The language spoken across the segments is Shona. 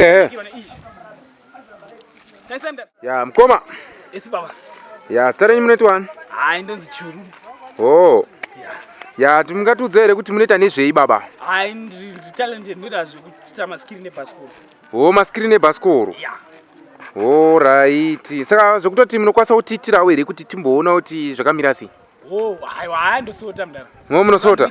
Eh. Ya mkoma. Esi baba. Ya stare nyimwe neti wani? Ah ndonzi churu. Oh. Ya ya tumungatiudza here kuti munoita nezvei baba? Ah ndri talent ndinoita zvekuita maskiri nebhasikoro. Oh maskiri nebhasikoro. Ya. Oh right. Saka zvekutoti munokwanisa kutiitirawo here kuti timboona kuti zvakamira sei? Oh, hayi hayi ndosota mdara. Mwo munosota?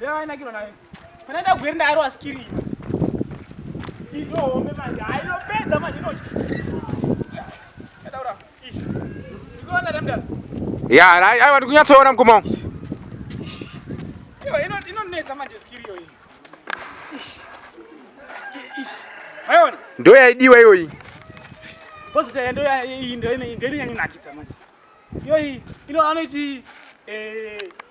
Yainakirwa nayo. Kana enda gweri ndairo askiri. Indo home manje. Haino pedza manje ino. Kadaura. Ish. Ndikuona ramda. Ya, ai ai ndikunyatsoona mkoma. Yo, ino ino neza manje skiri yo iyi. Ish. Ish. Maiona? Ndo yaidiwa iyo iyi. Boss ya ndo ya iyi ndo ine ndo ine yangu nakidza manje. Yo iyi ino anoiti eh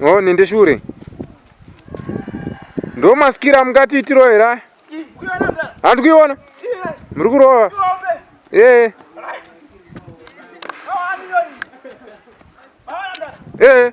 Oh, nende shure ndo masikira amungati itiro here aya handi kuiona muri kurova ee ee